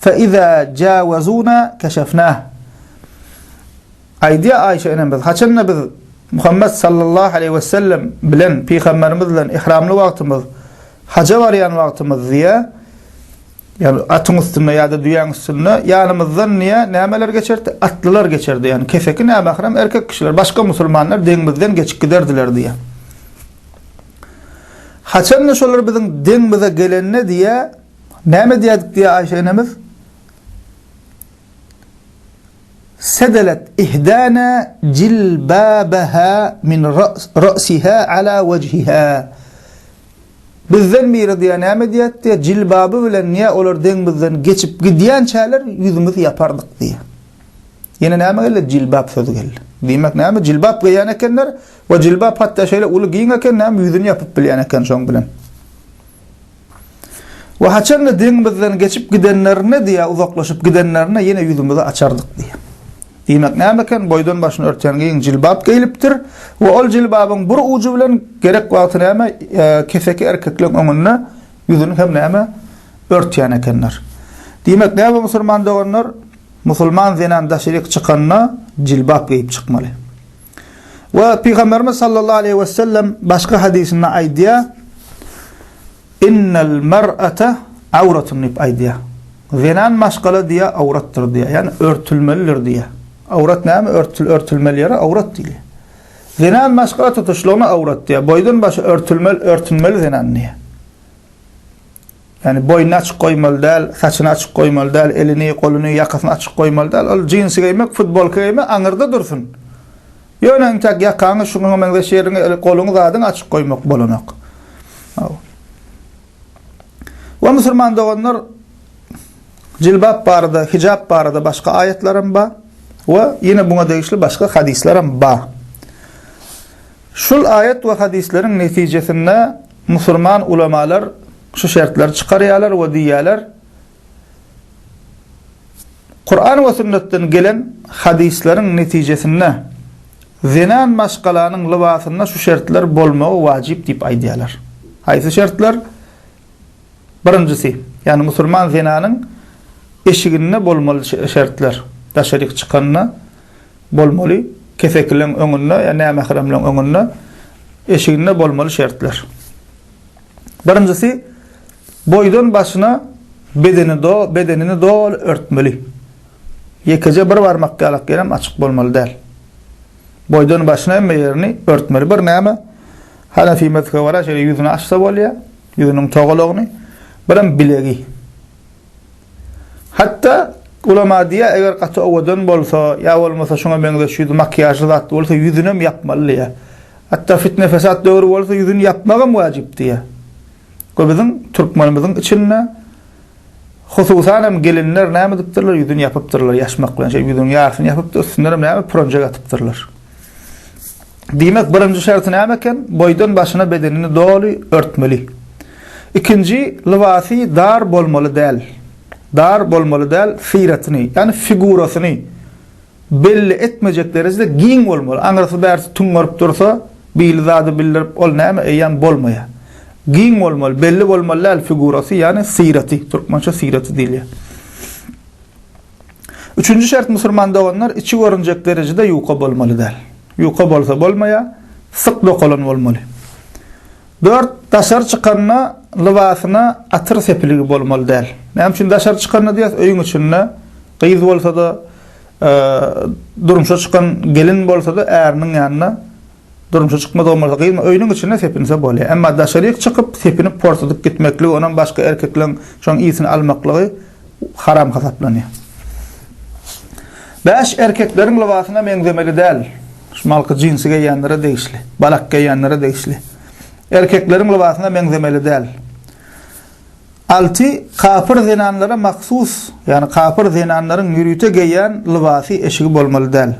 Fe-iza jawazuna keşefna. Aýdýar Aýşe enemiz, haçanda biz Muhammet sallallahu aleýhi we sellem bilen, pygamberimiz bilen ihramly wagtymyz, haja barýan wagtymyz diýýär, ýagny atyň üstünde ýa-da düýäň üstünde ýanymyzdan diýýär, nämeler geçerdi? Atlylar geçerdi, ýagny keseki nämähram erkek kişiler, başga musulmanlar deňimizden geçip giderdiler diýýär. Haçanda şolar biziň deňimize gelende diýýär, Näme edýärdik diýýär Aýşe enemiz. Sedelet ihdana jilbabaha min ra'siha ala wejhiha. Bizden biri diýýär, näme edýärdik diýýär, jilbaby bilen diýýär, olar deňimizden geçip gidýänçäler ýüzümizi ýapardyk diýýär. Ýene näme geldi? Jilbap sözi geldi. Diýmek näme? Jilbap geýýän ekenler we jilbap hatda şeýle uly giň eken, näme ýüzüni ýapyp bilýän eken şoň bilen. We haçan-da deň bizden geçip gidenlerinde diýýär, uzaklaşyp gidenlerinde ýene ýüzümizi açardyk diýýär. Diýmek näme eken, boýdan başyny örtýän giň jilbap geýlipdir we ol jilbabyň bir ujy bilen gerek wagty näme, keseki erkekleň öňünde ýüzüni hem näme, örtýän ekenler. Diýmek näme musulman doganlar, musulman zenan daşaryk çykanda jilbap geýip çykmaly. We Pygamberimiz sallallahu aleýhi we sellem başga hadysynda aýdýar, Innel mer'ate awratun diýip aýdýar. Zenan maşgala diýe awratdyr diýýär. Ýagny örtülmelidir diýýär. Awrat näme? Örtül örtülmeli ýere awrat diýýär. Zenan maşgala tutuşlygyna awrat diýýär. Boýdan başy örtülmeli, örtünmeli zenan diýýär. Ýagny boýnuny açyk goýmaly däl, saçyny açyk goýmaly däl, elini, goluny, ýakasyny açyk goýmaly däl. Ol jinsi geýmek, futbolka geýmek aňyrda dursun. Ýöne intäk ýakaňy, şuňa meňzeş ýeriňi, goluňy, zadyňy açyk goýmak bolanok. We musulman doganlar jilbap barada, hijap barada başga aýatlar hem bar we ýene buňa degişli başga hadyslar hem bar. Şul aýat we hadyslaryň netijesinde Musurman ulamalar şu şertleri çykarýarlar we diýýärler, Kuran we sünnetden gelen hadyslaryň netijesinde zenan maşgalanyň lybasynda şu şertler bolmagy wajyp diýip aýdýarlar. Haýsy şertler? Birinjisi, ýagny musurman zenanyň eşiginde bolmaly şertler, daşaryk çykanda, Bolmaly kesekiliň öňünde ýa nämähramlyň öňünde eşiginde bolmaly şertler. Birinjisi boýdan başyna bedeni do bedenini doly örtmeli. Ýekeje bir barmak ýalak ýerem açyk bolmaly däl. Boýdan başyna hemme ýerini örtmeli. Bir näme Hanefi mezhebe gara şeýle ýüzüni açsa bolýar, ýüzüniň togalagyny, birem bilegi. Hatda ulama diýýär, eger gaty owadan bolsa, ýa bolmasa şuňa meňzeş ýüzi makiýažly zatly bolsa, ýüzünem ýapmaly diýýär. Hatda fitne-fesat döwri bolsa, ýüzüni ýapmagam wajyp diýýär. Bu biziň türkmenimiziň içinde, hususanam gelinler näme edipdirler, ýüzüni ýapypdyrlar, ýaşmak bilen şeýdip ýüzüniň ýarysyny ýapyp-da, üstündenem näme, pürenjek atypdyrlar. Diýmek, birinji şerti näme eken? Boýdan başyna bedenini doly örtmeli. Ikinji, lybasy dar bolmaly däl. Dar bolmaly däl, syratyny, ýagny figurasyny belli etmejek derejede giň bolmaly. Aňyrsy bärsi tüňňerip dursa, bili zady bildirip, ol näme, eýýäm bolmaýar. Giň bolmaly, belli bolmaly däl figurasy, ýagny syraty, türkmençe syraty diýilýär. Üçünji şert musurman doganlar içi görünjek derejede ýuka bolmaly däl. Ýuka bolsa bolmaýa, syk dokalan bolmaly. Dört, daşary çykanda lybasyna atyr sepiligi bolmaly däl. Näme üçin daşary çykanda diýýäs, öýüň içinde gyz bolsada, durmuşa çykan gelin bolsada äriniň ýanyna Durmuşa çykmadygym bolsa gyzma, öýüniň içinde sepinse bolýar. Emma daşaryk çykyp, sepinip porsadyp gitmekligi, onam başga erkekleň şoň ysini almaklygy haram hasaplanýar. Bäş erkekleriň lybasyna meňzemeli däl. Şumalky jinsi geýýänlere degişli. Balak geýýänlere degişli. Erkekleriň lybasyna meňzemeli däl. Alty kapyr zenanlara mahsus, ýagny kapyr zenanlaryň ýörite geýýän lybasy eşigi bolmaly däl.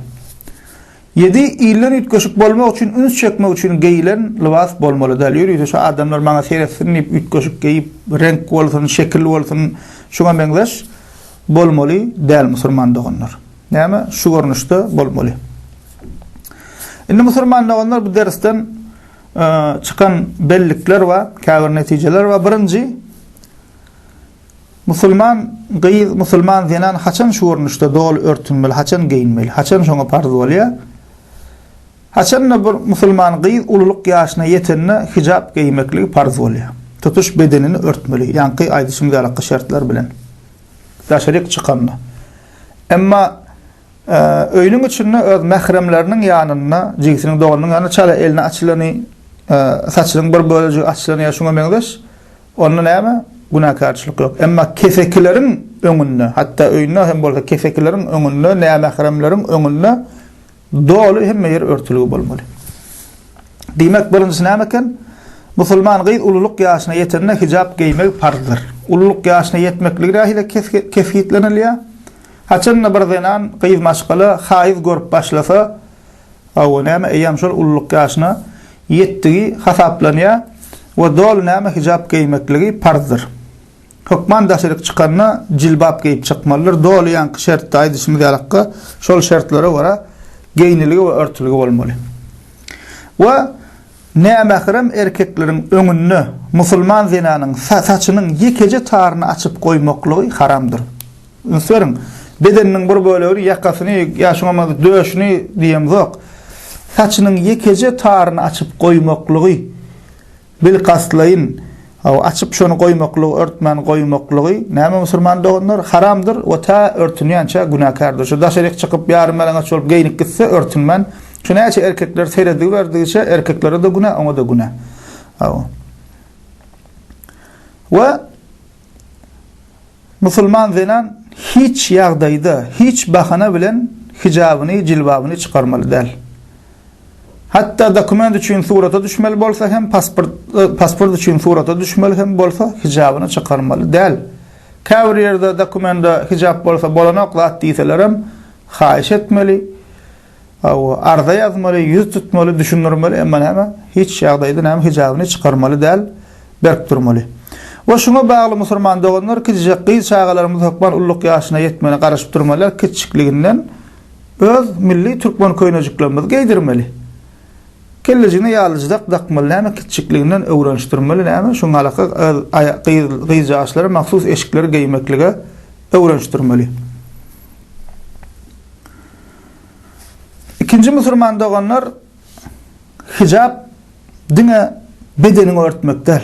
Ýedi ilden üýtgeşik bolmak üçin üns çekmek üçin geýilen lybas bolmaly däl. Ýörite şu adamlar maňa seretsin diýip üýtgeşik geýip, reňk bolsun, şekil bolsun, şuňa meňzeş bolmaly däl musurman doganlar. Näme? Şu görnüşde bolmaly. Indi musurman doganlar bu dersden çykan bellikler bar, käbir netijeler bar. Birinji, Musulman gyz, musulman zenan haçan şu görnüşde doly örtünmeli, haçan geýinmeli, haçan şoňa parz bolýar? Haçan-da bir musulman gyz ululyk ýaşyna ýetende hijap geýmekligi parz bolýar? Tutuş bedenini örtmeli, ýaňky aýdyşymyz ýalyky şertler bilen. Daşaryk çykanda. Emma öýüniň içinde öz mähremleriniň ýanynda, jigisiniň, doganynyň ýanynda çala elini açylany, saçynyň bir bölejigi açylany ýa şuňa meňzeş Onda näme? Günäkärçilik ýok. Emma kesekileriň öňünde, hatda öýünde hem bolsa kesekileriň öňünde, nämähremleriň öňünde doly hemme ýer örtülgi bolmaly. Diýmek, birinjisi näme eken? Musulman gyz ululyk ýaşyna ýetende hijap geýmegi parzdyr. Ululyk ýaşyna ýetmekligi nähili kesgitlenilýär? Haçan-da bir zenan, gyz maşgala haýyz görüp başlasa, Hawa, näme eýýäm şol ululyk ýaşyna ýetdigi hasaplanýar we doly näme hijap geýmekligi parzdyr. Hökman daşaryk çykanda jilbap geýip çykmalydyr, doly ýaňky şertde aýdyşymyz ýalakka şol şertlere görä geýnilgi we örtülgi bolmaly. We nämährem erkekleriň öňünde musulman zenanyň saçynyň ýekeje taryny açyp goýmaklygy haramdyr. Ünsberiň, bedeniniň bir bölegini, ýakasyny, ýa şoňa bolmasa döşüni diýemzok, saçynyň ýekeje taryny açyp goýmaklygy, bilkastlaýyn, hawa, açyp şony goýmaklygy, örtmän goýmaklygy, näme musulman doganlar, haramdyr we tä örtünýänçä günäkärdir. Şu daşaryk çykyp, ýarymýalaňaç bolup geýnip gitse, örtünmän, şu näçe erkekler serediberidigiçe, erkeklere-de günä, oňa-da günä. Hawa. We Musulman zenan hiç ýagdaýda, hiç bahana bilen hijabyny, jilbabyny çykarmaly däl. Hatda dokument üçin surata düşmeli bolsa hem, pasport, pasport üçin surata düşmeli hem bolsa, hijabyny çykarmaly däl. Käbir ýerde dokumenta hijap bolsa bolanok zat diýselerem, haýyş etmeli. Hawa, arza ýazmaly, ýüz tutmaly, düşündirmeli, emma näme, hiç ýagdaýda näme hijabyny çykarmaly däl, berk durmaly. We şuňa bagly musurman doganlar kiçijek gyz çagalarymyz hökman ulluk ýaşyna ýetmegine garaşyp durmalylar, kiçijikliginden öz milli türkmen köýnejiklerimizi geýdirmeli. Kellejigine ýalyjdak dakmaly, näme, kiçijikliginden öwrenişdirmeli, näme, şu galaka gyz aýa gyz gyzjagaçlara mahsus eşikleri geýmeklige öwrenişdirmeli. Ikinji musulman doganlar hijap diňe bedeniňi örtmek däl.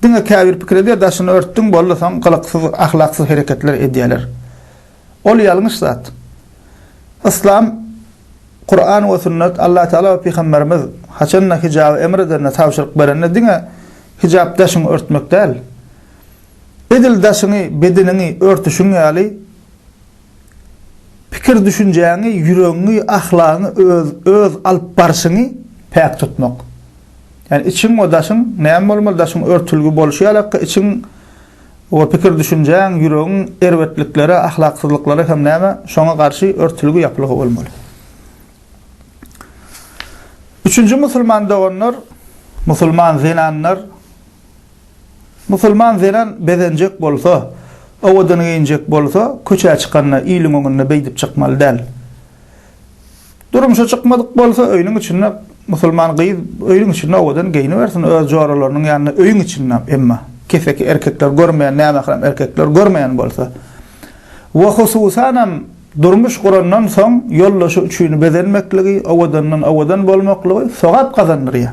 Diňe käbir pikir edýär, daşyny örtdüň boldy soň gylyksyz, ahlaksyz hereketler edýärler. Ol ýalňyş zat. Yslam, Kuran we sünnet, Allah Taala we pygamberimiz haçanda hijaby emr edende, tabşyryk berende diňe hijap daşyňy örtmek däl. Edil daşyňy, bedeniňi örtüşiň ýaly pikir-düşünjäňi, ýüregiňi, ahlagyňy, öz öz alyp barşyňy päk tutmak. Ýani içiň we daşyň näme bolmaly, daşyň örtülgi bolşy ýalakka içiň we pikir-düşünjäň, ýüregiň erbetliklere, ahlaksyzlyklara hem näme, şoňa garşy örtülgi, ýapylgy bolmaly. Üçünji musulman doganlar, musulman zenanlar, Musulman zenan bezenjek bolsa, owadan geýinjek bolsa, köçä çykanda iliň öňünde beýdip çykmaly däl. Durmuşa çykmadyk bolsa, öýüniň içinde musulman gyz öýüniň içinde owadan geýnibersin, öz joralarynyň ýanynda öýüň içinde, emma keseki erkekler görmeýän, nämährem erkekler görmeýän bolsa. We hususanam durmuş gurandan soň ýoldaşy üçin bezenmekligi, owadandan owadan bolmaklygy sogap gazandyrýar.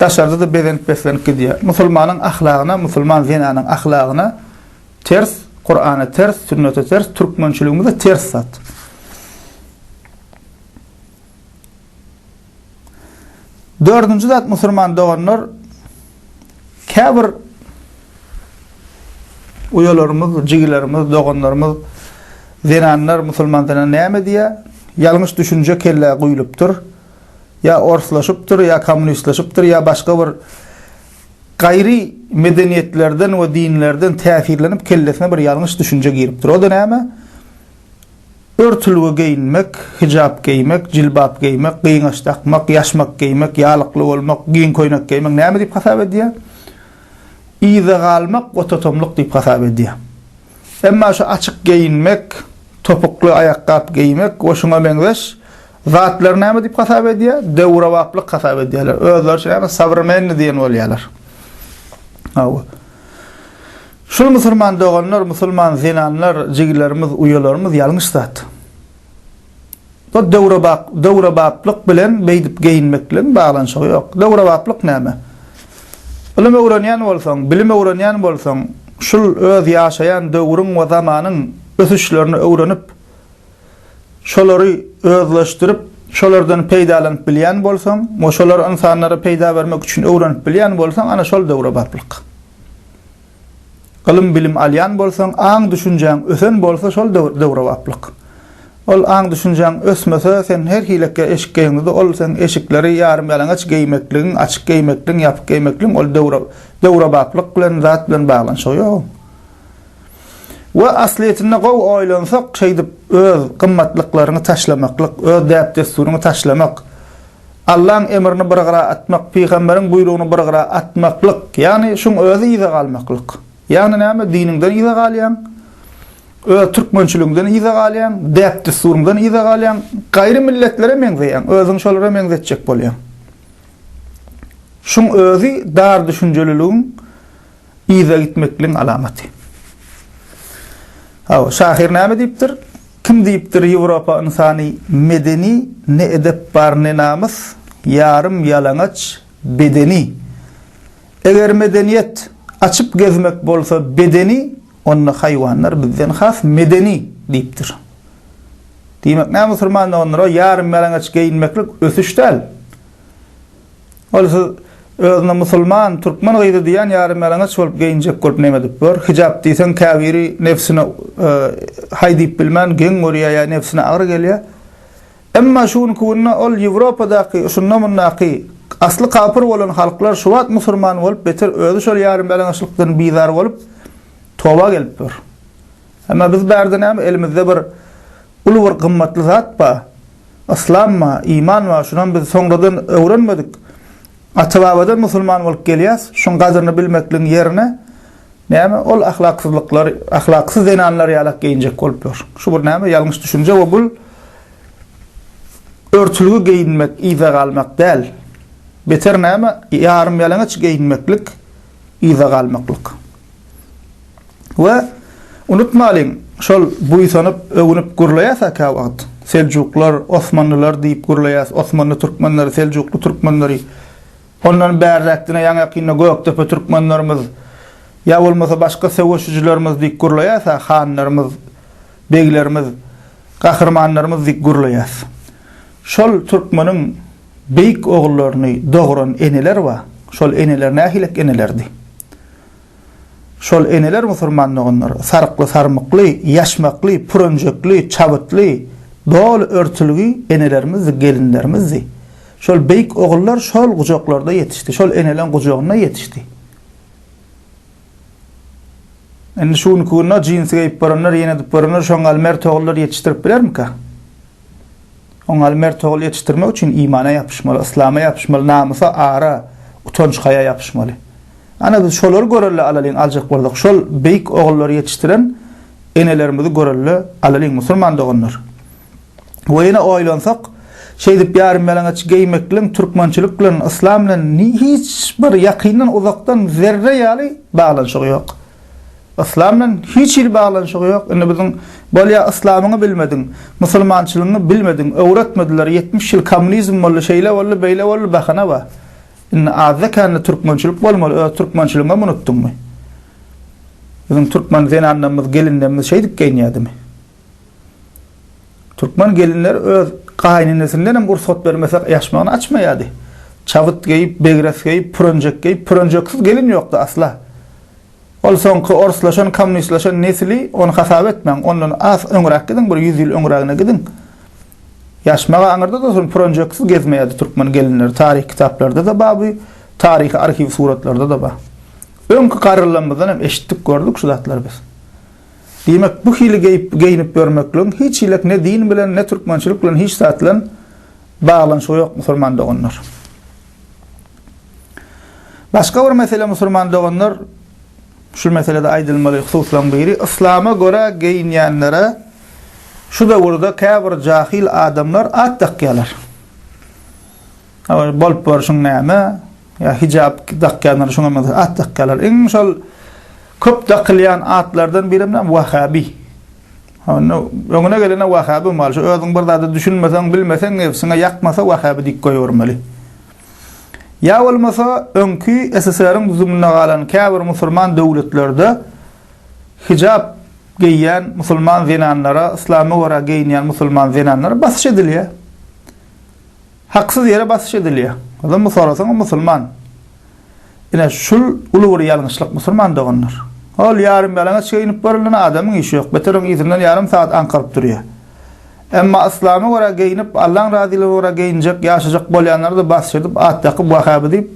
Daşarda-da bezenip-beslenip gidýär. Musulmanyň ahlagyna, musulman zenanyň ahlagyna ters, Kurana ters, sünnete ters, türkmençiligimize ters zat. Dördünji zat musulman doganlar käbir uýalarymyz, jigilerimiz, doganlarymyz zenanlar musulman zenan näme diýýär? Ýalňyş düşünje kellä guýlupdyr. ýa orslaşypdyr, ýa kommunistleşipdir, ýa başga bir gaýry medeniýetlerden we dinlerden täsirlenip kellesine bir ýalňyş düşünje giripdir. O-da näme? Örtülgi geýinmek, hijap geýmek, jilbap geýmek, gyňaç dakmak, ýaşmak geýmek, ýalykly bolmak, giň köýnek geýmek näme diýip hasap edýär? Yza galmak we totomlyk diýip hasap edýär. Emma şu açyk geýinmek, topukly aýakgap geýmek we şuňa meňzeş zatlary näme diýip hasap edýär? Döwrebaplyk hasap edýärler. Özleriçe ýa-da sowremenniý diýen bolýarlar. Hawa. Şul musulman doganlar, musulman zenanlar, jigilerimiz, uýalarymyz ýalňyş zat. Bu döwrebap, döwrebaplyk bilen beýdip geýinmekligiň baglanyşygy ýok. Döwrebaplyk näme? Ylym öwrenýän bolsaň, bilim öwrenýän bolsaň, şul öz ýaşaýan döwrüň we zamanyň ösüşlerini öwrenip, şolary özleşdirip, şolardan peýdalanyp bilýän bolsaň we şolary ynsanlara peýda bermek üçin öwrenip bilýän bolsaň, ana şol döwrebaplyk. Ylym-bilim alýan bolsaň, aň-düşünjäň ösen bolsa şol döwrebaplyk. Ol aň-düşünjäň ösmese, sen her hilekä eşik geýeňde-de ol seň eşikleri ýarym-ýalaňaç geýmekligiň, açyk geýmekligiň, ýapyk geýmekligiň ol döwrebaplyk bilen, zat bilen baglanyşygy ýok. We aslyýetinde gowy oýlansak, şeýdip öz gymmatlyklaryňy taşlamaklyk, öz däp-dessuryňy taşlamak, Allaň emrini bir gyra atmak, pygamberiň buýrugyny bir gyra atmaklyk, ýagny şuň özi yza galmaklyk. Ýagny näme, diniňden yza galýaň, öz türkmençiligiňden yza galýaň, däp-düssuryňdan yza galýaň, gaýry milletlere meňzeýäň, özüňi şolara meňzetjek bolýaň. Şuň özi dar düşünjeliligiň Yza gitmekligiň alamaty. Hawa, şahyr näme diýipdir? Kim diýipdir Ýewropa ynsany medeni, ne edep bar, ne namys, ýarym ýalaňaç bedeni. Eger medeniýet açyp gezmek bolsa bedeni, onda haýwanlar bizden has medeni diýipdir. Diýmek näme musulman doganlar, o ýarym ýalaňaç geýinmeklik ösüş däl. Ol siz özüne musulman, türkmen gyzy diýýän ýarymýalaňaç bolup geýinjek bolup neme edip bor? Hijap diýseň käbiri nebsine haý diýip bilmän geň görýär ýa nebsine agyr gelýär. Emma şu günki günde ol Ýewropadaky şunda mundaky asly kapyr bolan halklar şu wagt musulman bolup beter özi şol ýarymýalaňaçlykdan bizar bolup toba gelip dur. Emma biz bärde näme elimizde bir uly bir gymmatly zat bar yslam bar iman bar şunam biz soňradan öwrenmedik ata babadan musulman bolup gelýäs şuň gadyryny bilmekligiň ýerine näme ol ahlaksyzlyklar ahlaksyz zenanlar ýalak geýinjek bolup ýör şu bir näme ýalňyş düşünje we bul örtülgi geýinmek yza galmak däl beter näme ýarym ýalaňaç geýinmeklik yza galmaklyk. We, unutmalyň, şol buýsanyp, öwünip gürleýäs-ä käwagt, Seljuklar, Osmanlylar diýip gürleýäs, Osmanly türkmenleri, Seljukly türkmenleri. Ondan bärräk diňe ýaňy-ýakynda Gökdepe türkmenlerimiz ýa bolmasa başga söweşijilerimiz diýip gürleýäs-ä, hanlarymyz, beglerimiz, gahrymanlarymyz diýip gürleýäs. Şol türkmeniň beýik ogullaryny dogran eneler bar. Şol eneler nähilek enelerdi? Şol eneler musurman doganlar, sarykly sarmykly, ýaşmakly, pürünjekli, çabytly, doly örtülgi enelermizdi, gelinlerimizdi. Şol beýik ogullar şol gujaklarda ýetişdi, şol eneleň gujagynda ýetişdi. Indi şu günki günde jinsi geýip baranlar, ýene edip baranlar şoňa galy mert ogullar ýetişdirip bilermika? Oňaly mert ogul ýetişdirmek üçin imana ýapyşmaly, yslama ýapyşmaly, namysa, ara, utanç-haýa ýapyşmaly. Ana, biz şolary görelle alalyň aljak bolsak, şol beýik ogullary ýetişdiren enelerimizi görelle alalyň, musulman doganlar. We ýene oýlansak, şeýdip ýarymýalaňaç geýmekligiň türkmençilik bilen, yslam bilen hiç bir ýakyndan-uzakdan zerre ýaly baglanyşygy ýok. Yslam bilen hiç hili baglanyşygy ýok. Indi biziň bolýa yslamyňy bilmediň, musulmançylygyňy bilmediň, öwretmediler, ýetmiş ýyl kommunizm boldy, şeýle boldy, beýle boldy bahana bar. Indi azda kände türkmençilik bolmaly, öz türkmençiligiňem unutdyňmy? Biziň türkmen zenanlarymyz, gelinlerimiz şeýdip geýinýädimi? Türkmen gelinleri öz gaýynenesinden hem rugsat bermesek ýaşmagyny açmaýardy. Çabyt geýip, begres geýip, pürenjek geýip, pürenjeksiz gelin ýokdy asla. Ol soňky orslaşan, kommunistlaşan nesli ony hasap etmäň, ondan az öňräk gidiň, bir ýüz ýyl öňrägine gidiň. Ýaşmagy aňyrda dursun, pürenjeksiz gezmeýärdi türkmen gelinleri. Taryh kitaplarda-da bar bu, taryhy arhiw suratlarda-da bar. Öňki garrylarymyzdan hem eşitdik, gördük şu zatlary biz. Diýmek, bu hili geýip-geýinip ýörmekligiň hiç hilek ne din bilen, ne türkmençilik bilen hiç zat bilen baglanyşygy ýok, musulman doganlar. Başga bir mesele musulman doganlar, şu meselede aýdylmaly hususlaryň biri, yslama görä geýinýänlere şu döwürde käbir jahil adamlar at dakýarlar. Ol bolup borşuň näme? Ýa hijap dakýanlar şoňa meňzeş at dakýarlar. Iň şol köp dakylýan atlardan biri hem näme? Wahabi. Onda öňüne gelene wahabi mal. Şu özüň bir zada düşünmeseň, bilmeseň, nebsiňe ýakmasa wahabi diýip goýbermeli. Ýa bolmasa öňki SSR-iň düzüminde galan käbir musulman döwletlerde hijap geýýän musulman zenanlara, yslama görä geýinýän musulman zenanlara basyş edilýär. Haksyz ýere basyş edilýär. Ondan bu sorasaňyz musulman. Ine şul uly bir ýalňyşlyk musulman doganlar. Ol ýarym ýalaňaç geýinip görülen adamyň işi ýok. Beter oň yzyndan ýarym sagat aňkaryp durýar. Emma yslama görä geýinip Allaň razylygyna görä geýinjek ýaşajak bolýanlarda basyş edip at dakyp wahhaby diýip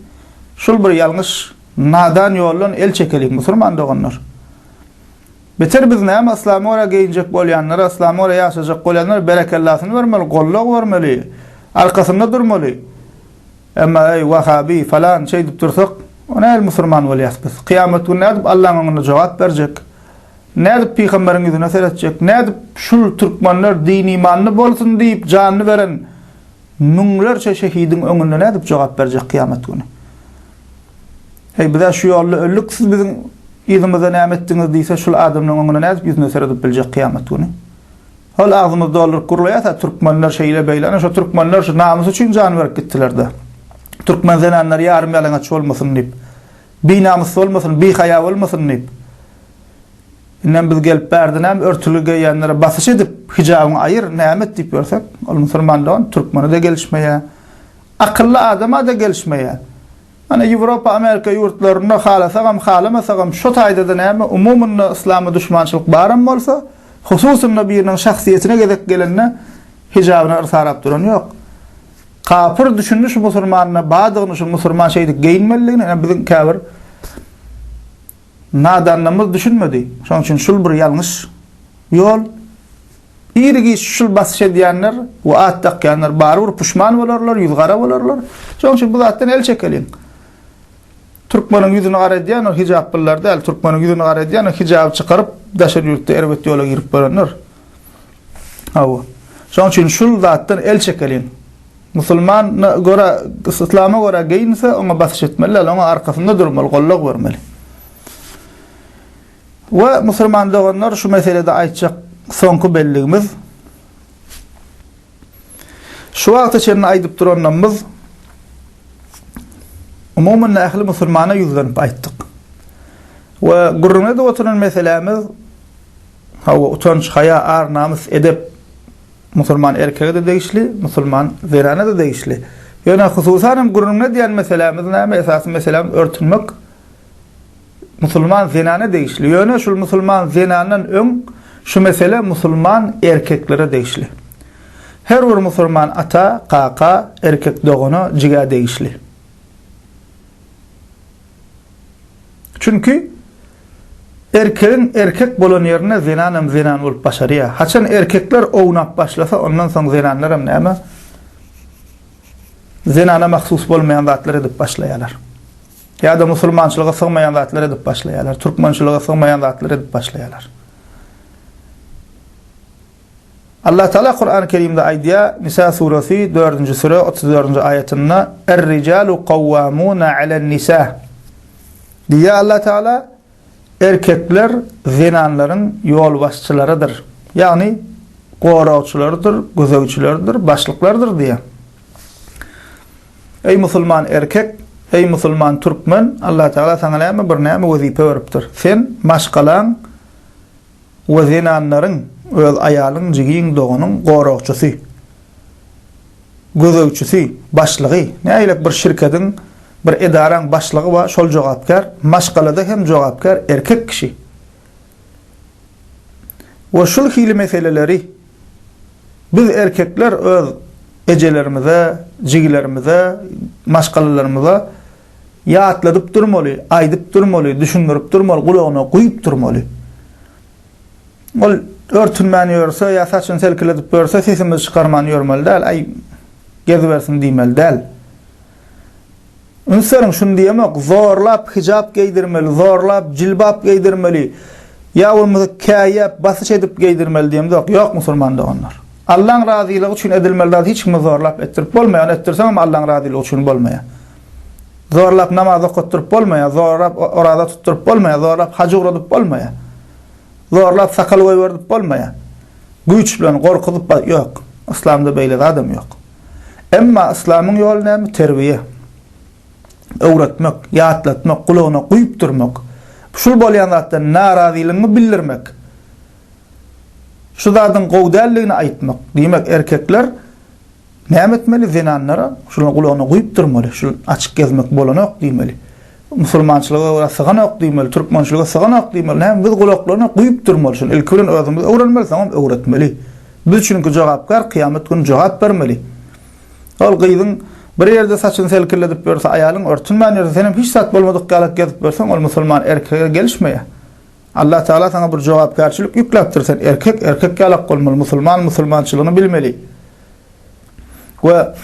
şul bir ýalňyş nadan ýoldan el çekeliň musulman doganlar. Beter biz näme yslama görä geýinjek bolýanlara yslama görä ýaşajak bolýanlara berekellasyny bermeli gollag bermeli arkasynda durmaly emma eý wahabi falan şeýdip dursak o nähili musurman bolýas biz kyýamat güni nädip Allaň öňünde jogap berjek nädip pygamberiň ýüzüne seretjek nädip şul türkmenler din imanly bolsun diýip janyny beren müňlerçe şehidiň öňünde nädip jogap berjek kyýamat güni Heý, biz-ä şu ýolda öldük, siz biziň yzymyzda näme etdiňiz? diýse, şul adamlaryň öňünde nädip ýüzüne seredip biljek kyýamat güni? Hol agzymyzy dolduryp gürleýäs-ä, türkmenler şeýle-beýle, ana, şo türkmenler şu namys üçin jan berip gitdiler-dä. Türkmen zenanlary ýarym-ýalaňaç bolmasyn diýip, binamys bolmasyn, bihaýa bolmasyn diýip. Indem biz gelip bärde näme örtügi geýýänlere basyş edip, hijabyňy aýyr, näme et diýip ýörsek, ol musulman dogan türkmene-de gelişmeýär. Akylly adama-da gelişmeýär. Mana, Ýewropa, Amerika ýurtlarynda halasagam, halamasagam, şo taýda-da näme, umumynda yslama duşmançylyk baram bolsa, hususynda biriniň şahsyýetine gezek gelende hijabyny yrsarap duran ýok. Kapyr düşündi şu musurmanyna, badygyny şu musurman şeýdip geýinmelidigini, ine biziň käbir nadanlarymyz düşünmedi. Şonuň üçin şul bir ýalňyş ýol. Ir-giç şul basyş edýänler we at dakýanlar barybir puşman bolarlar, ýüzgara bolarlar. Şonuň üçin bu zatdan el çekeliň. Türkmeniň ýüzüni gara edýän ol hijaplylar däl, türkmeniň ýüzüni gara edýän hijaby çykaryp, daşary ýurtda erbet ýola girip bolanlar. Hawa. Şonuň üçin şul zatdan el çekeliň. Musulman görä, islama görä geýinse, oňa basyş etmeli, oňa arkasynda durmaly, gollag bermeli. We musulman doganlar şu meselede aýtjak soňky belligimiz şu wagta çenli aýdyp duranlarymyz umuman ähli musulmana ýüzlenip aýtdyk. We gürrüň edip oturan meselämiz hawa utanç, haýa, ar, namys, edep musulman erkege-de degişli, musulman zenana-da degişli. Ýöne hususan hem gürrüň edýän meselämiz näme? Esasy meselämiz örtünmek. musulman zenana degişli. Ýöne şul musulman zenandan öň şu mesele musulman erkeklere degişli. Her bir musulman ata, kaka, erkek dogana, jigä degişli. Çünki erkegiň erkek bolan ýerinde zenanam zenan bolup başarýar. Haçan erkekler ownap başlasa, ondan soň zenanlaram näme? Zenana mahsus bolmaýan zatlar edip başlaýarlar. Ýa-da musulmançylyga sygmaýan zatlar edip başlaýarlar, türkmençilige sygmaýan zatlar edip başlaýarlar. Allah Taala Kur'an-ı Kerimde aýdýar, Nisa suresi 4-nji sure 34-nji aýatynda, "Er-rijalu kawwamuna alen-nisa." Diýýär Allah Taala, Erkekler zenanlaryň ýolbaşçylarydyr, ýagny goragçylarydyr, gözegçileridir, başlyklardyr diýýär. Eý musulman erkek, eý musulman türkmen, Allatagala saňa näme bir näme wezipe beripdir. Sen maşgalaň we zenanlaryň öz aýalyň, jigin, doganyň goragçysy, gözegçisi, başlygy, nägilek bir şirkediň, bir edaraň başlygy bar, şol jogapkär, maşgalada hem jogapkär erkek kişi. We şul hili meseleleri biz erkekler öz ejelerimize, jigilerimize, maşgalalarymyza Ýatladyp durmaly, aýdyp durmaly, düşündirip durmaly, gulagyna guýup durmaly. Ol örtünmän ýörse ýa saçyny selkiledip ýörse, sesimizi çykarman ýörmeli däl, Aý, gezibersin diýmeli däl. Üns beriň, şuny diýemok, zorlap hijap geýdirmeli, zorlap jilbap geýdirmeli ýa bolmasa käýäp, basyş edip geýdirmeli diýemzok. Ýok, musulman doganlar. Allaň razylygy üçin edilmeli zat hiç kimi zorlap etdirip bolmaýar, ony etdirseňem Allaň razylygy üçin bolmaýar. Zorlap namaz okatdyryp bolmaýar, zorlap oraza tutduryp bolmaýar, zorlap haj ugradyp bolmaýar. Zorlap sakal goýberdip bolmaýar. Güýç bilen gorkuzyp bar, ýok. Yslamda beýle zadam ýok. Emma yslamyň ýoly näme? Terbiýe. Öwretmek, ýatlatmak, gulagyna guýup durmak. Şul bolýan zatdan narazylygyňy bildirmek. Şu zadyň gowy däldigini aýtmak. Diýmek, erkekler Näme etmeli zenanlara şular gulagyna guýup durmaly şu açyk gezmek bolanok diýmeli musulmançylyga görä syganok diýmeli türkmençilige syganok diýmeli näme biz gulaklaryna guýup durmaly şuny ilki bilen özümiz öwrenmeli soňam öwretmeli biz çünki jogapkär kyýamet güni jogap bermeli ol gyzyň bir ýerde saçyny selkilledip ýörse aýalyň örtünmän ýörse senem hiç zat bolmadyk ýaly gezip ýörseň ol musulman erkege gelişmeýär Allah Taala saňa bir jogapkärçilik ýükläpdir sen erkek erkek ýalak bolmaly musulman musulmançylygyny bilmeli we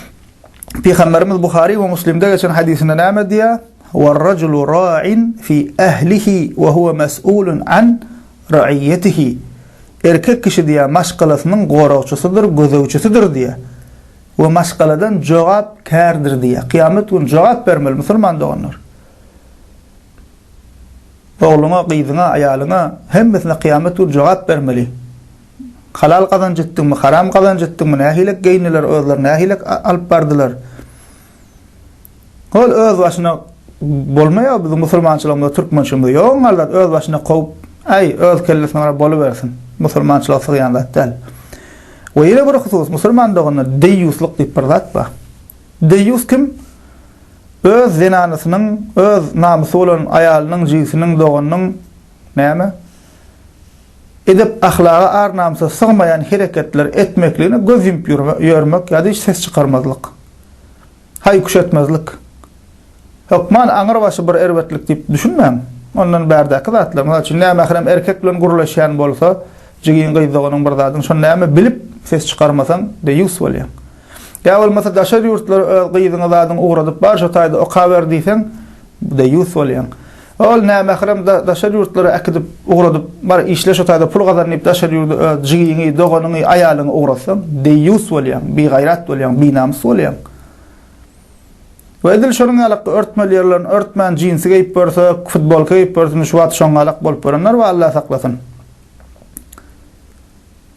Pygamberimiz Buhary we Muslimde geçen hadisinde näme diýýär War rajulu ra'in fi ahlihi we huwa mas'ulun an ra'iyatihi Erkek kişi diýýär maşgalasynyň goragçysydyr gözegçisidir diýýär we maşgaladan jogap kärdir diýýär kıyamet gün jogap bermeli musulman doganlar Ogluňa, gyzyňa, aýalyňa, hemmesine kyýamat güni jogap bermeli. Halal gazanç etdiňmi, haram gazanç etdiňmi, nähilek geýindiler, özleri nähilek alyp bardylar. Hol öz başyna bolmaýar biziň musulmançylygymyzda, türkmençiligimizde. Ýogyň hallat öz başyna kowup, äý, öz kellesine gara bolubersin. Musulmançylyga sygýan zat däl. We ýene bir husus, musulman doganlar, deýýuslyk diýip bir zat bar. Deýýus kim? Öz zenanysynyň, öz namysy bolan aýalynyň, jigisiniň, doganynyň, näme, edep-ahlaga, ar-namysa sygmaýan hereketleri etmekligine göz ýumup ýörmek ýa-da hiç ses çykarmazlyk. Haý-küş etmezlik. Hökman aňrybaşy bir erbetlik diýip düşünmäň. Ondan bärdäki zatlar, mysal üçin, nämährim erkek bilen gürleşýän bolsa, jigiň, gyz, doganyň bir zadyň, şony näme, bilip, ses çykarmasaň, deýýus bolýaň. Ýa bolmasa daşary ýurtlara öz gyzyňy zadyňy ugradyp bar şo taýda okaber diýseň deýýus bolýaň. Ol nämährem daşary ýurtlara äkidip ugradyp bar işle şo taýda pul gazan diýip daşary ýurda öz jigiňi, doganyňy, aýalyňy ugratsaň deýýus bolýaň, bigaýrat bolýaň, binamys bolýaň. We edil şonuň ýalakda örtmeli ýerlerini örtmän jinsi geýip görse, futbolka geýip görse şu wagt şoňňalak bolup görenler bar Allah saklasyn.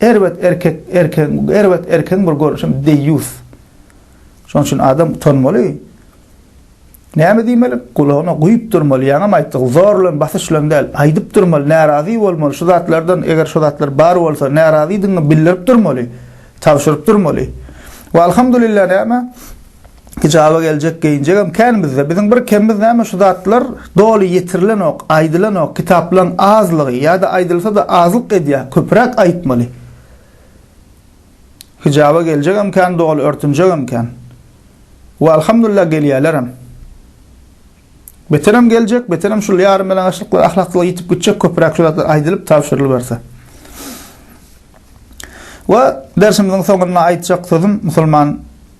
Erbet erkek erkegiň erbet erkegiň bir görnüşi hem deýýus. Şonuň üçin adam utanmaly. Näme diýmeli? Gulagyna guýup durmaly. Ýaňam aýtdyk, zor bilen, basyş bilen däl. Aýdyp durmaly, närazy bolmaly. Şu zatlardan, eger şu zatlar bar bolsa, närazydygyňy bildirip durmaly. Tabşyryp durmaly. We alhamdulillah näme? Hijaba geljek geýinjegem kän bizde. Biziň bir kemimiz näme şu zatlar doly ýetirilenok, aýdylanok, kitaplaryň azlygy ýa-da aýdylsa-da azlyk edýär, köpräk aýtmaly. Hijaba geljegem kän, doly örtünjegem kän. We alhamdulillah gelýärlerem. Beterem geljek, beterem şul ýarym ýalaňaçlyklar, ahlaksyzlyk ýitip gitjek, köpräk şu zatlar aýdylyp, tabşyrylyberse. We dersimiziň soňunda aýtjak sözüm musulman